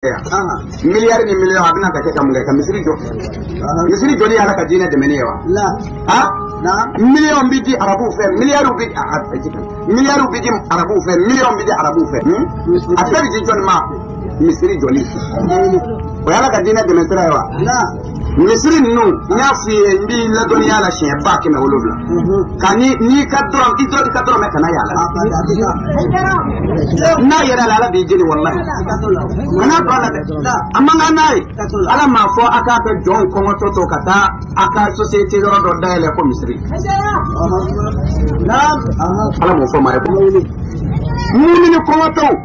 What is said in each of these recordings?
miliyari ni miliyɔn a bɛna ka kɛ ka mun kɛ ka misiri jɔ misiri jɔli y'ala ka diinɛ dɛmɛni ye wa miliyɔn bɛ di arabuw fɛ miliyariw bɛ miliyariw bɛ di arabuw fɛ miliyɔn bɛ di arabuw fɛ a bɛɛ bɛ di jɔnni ma misiri jɔli o y'ala ka diinɛ dɛmɛ sira ye wa misiri ninnu n y'a f'i ye n b'i ladɔnniya la siɲɛ ba kɛmɛ wolonwula ka ni n'i ka dɔrɔn i dɔrɔn i ka dɔrɔmɛ kana y'a la n'a yer'a la ala b'i jeni walahi kana to a la dɛ a man kan n'a ye ala m'a fɔ a k'a ka jɔnw kɔngɔtɔ to ka taa a ka sosiyete yɔrɔ dɔ dayɛlɛ ko misiri ala m'o fɔ maa ye ko mumini kɔngɔtɔw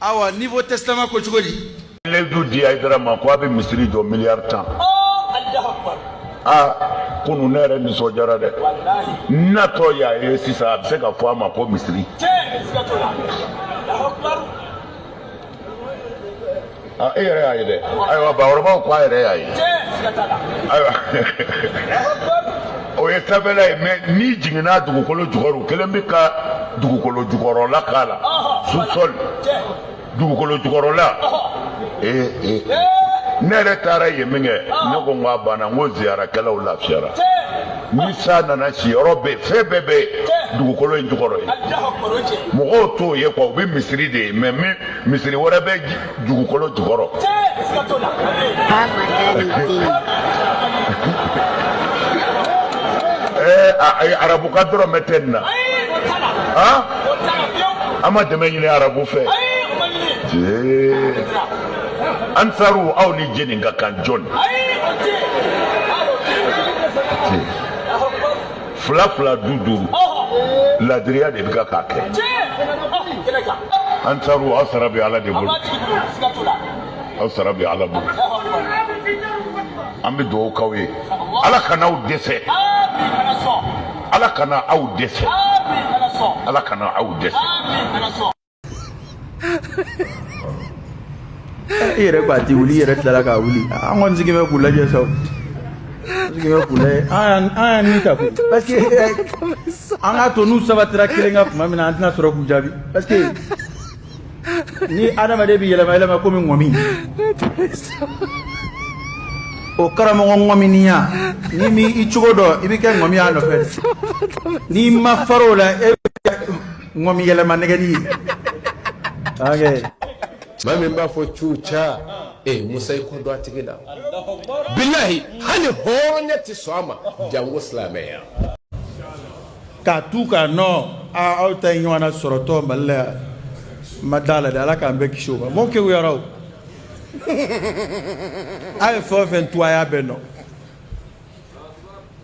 awa nouveau testament ko cogo di layidu di aidara ma ko a bɛ misiri jɔ miliyari tan a kunu ne yɛrɛ nisɔndiyara dɛ n natɔ y'a ye sisan a bɛ se ka fɔ a ma ko misiri Ah, e yɛrɛ y'a ye dɛ ayiwa bakɔrɔbaw ko a yɛrɛ y'a ye ayiwa o ye sanfɛla ye mɛ n'i jiginna dugukolo jukɔrɔ u kɛlen bɛ ka dugukolo jukɔrɔla k'a la sous-sol dugukolo jukɔrɔla ee ee ne yɛrɛ taara yen min kɛ ne ko n ko a banna n ko ziyarakɛlaw lafiyara ni san nana siyɔrɔ bɛ fɛn bɛɛ bɛ dugukolo in jukɔrɔ yen mɔgɔw t'o ye kuwa u bɛ misiri de ye mɛ min misiri wɛrɛ bɛ dugukolo jukɔrɔ. ee eh, arabu ka dɔrɔmɛ tɛ nin na han an ma dɛmɛ ɲini arabu fɛ ansaru aw ni jɛni ka kan jɔni. fila fila duuru duuru ladiriya de bɛ ka k'a kɛ ansaru aw sara bɛ ala de bolo aw sara bɛ ala bolo an bɛ dugawu k'aw ye ala kana aw dɛsɛ ala kana aw dɛsɛ ala kana aw dɛsɛ i yɛrɛ ko a ti wuli i yɛrɛ tilala k'a wuli an kɔni sigilen bɛ k'u lajɛ sa o sigilen bɛ k'u lajɛ an y'an ni ta koyi parce que an k'a to n'u sabatira kelen kan tuma min na an tɛna sɔrɔ k'u jaabi parce que ni adamaden bɛ yɛlɛma yɛlɛma komi ŋɔmi o karamɔgɔ ŋɔminiya n'i m'i cogo dɔn i bɛ kɛ ŋɔmi y'a nɔfɛ n'i ma far'o la e n kɔmi yɛlɛma nɛgɛli maa min b'a fɔ cu ca ee musa i kɔ don a tigi la bilahi hali hɔrɔnya tɛ sɔn a ma jango silamɛya k'a tu k'a nɔ aa aw ta ye ɲɔgɔn na sɔrɔtɔ mali la yan n ma d'a la dɛ ala k'an bɛɛ kisi o ma mɔɔ kewuyara o a ye fɛn o fɛn tu a y'a bɛɛ nɔ